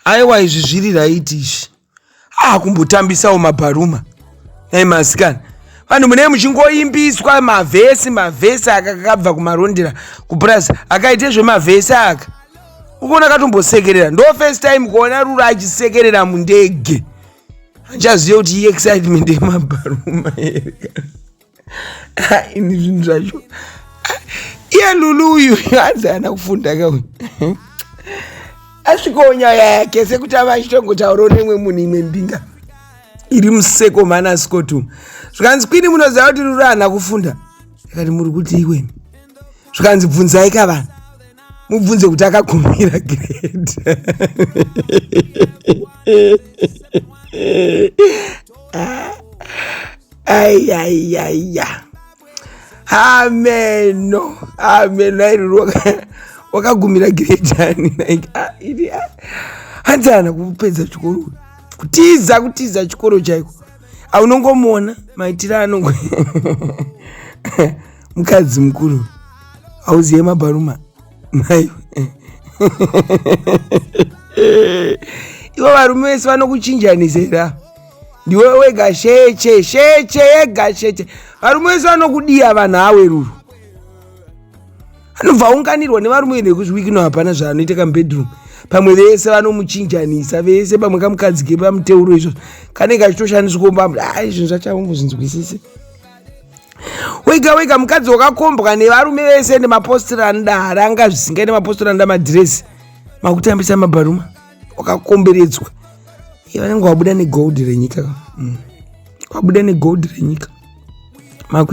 aiwa izvi zviri raiti izvi haa kumbotambisawo mabharuma nai masikana vanhu munee muchingoimbiswa mavhesi mavhesi aka kakabva kumarondera kupurazi akaite zvemavhesi aka ukuona katombosekerera ndo first time kuona rura achisekerera mundege achaziva kuti iexcitement yemabharuma here ini zvinhu zvacho iye lulu uyu hanzi ana kufunda ka uyu asvikawo nyaya yake sekuti ava achitongotaurawo nemwe munhu imwe mbinga iri museko mana sikotu zvikanzi kwini munoziva kuti ruri ana kufunda akati muri kuti iweni zvikanzi bvunzai ka vanhu mubvunze kuti akakumira grade aiyaiyaia ameno ameno airiro wakagumira giredhani like ah, iri ah. hanzi ana kupedza chikoro kutiza kutiza chikoro chaiko aunongomuona maitiro anongo mukadzi mukuru hauziye mabharuma mai ivo varume vese vanokuchinjanisera ndiwe wega sheche sheche yega sheche varume vese vanokudiya vanhu aweruru anobva aunganirwa nevarume ine kuzviwikino hapana zvaanoita kamubedroom pamwe vese vanomuchinjanisa vese pamwe kamukadzike pamuteuro izvozvo kanenge achitoshandiswa kumba ah, izvinhu zvachaungu zvinzwisise wega wega mukadzi wakakombwa nevarume vese nemapostira anoda haranga zvisingai nemapostira anoda madhiresi makutambisa mabharuma wakakomberedzwa iye vanenge wabuda negold renyika mm. wabuda negold renyika Maku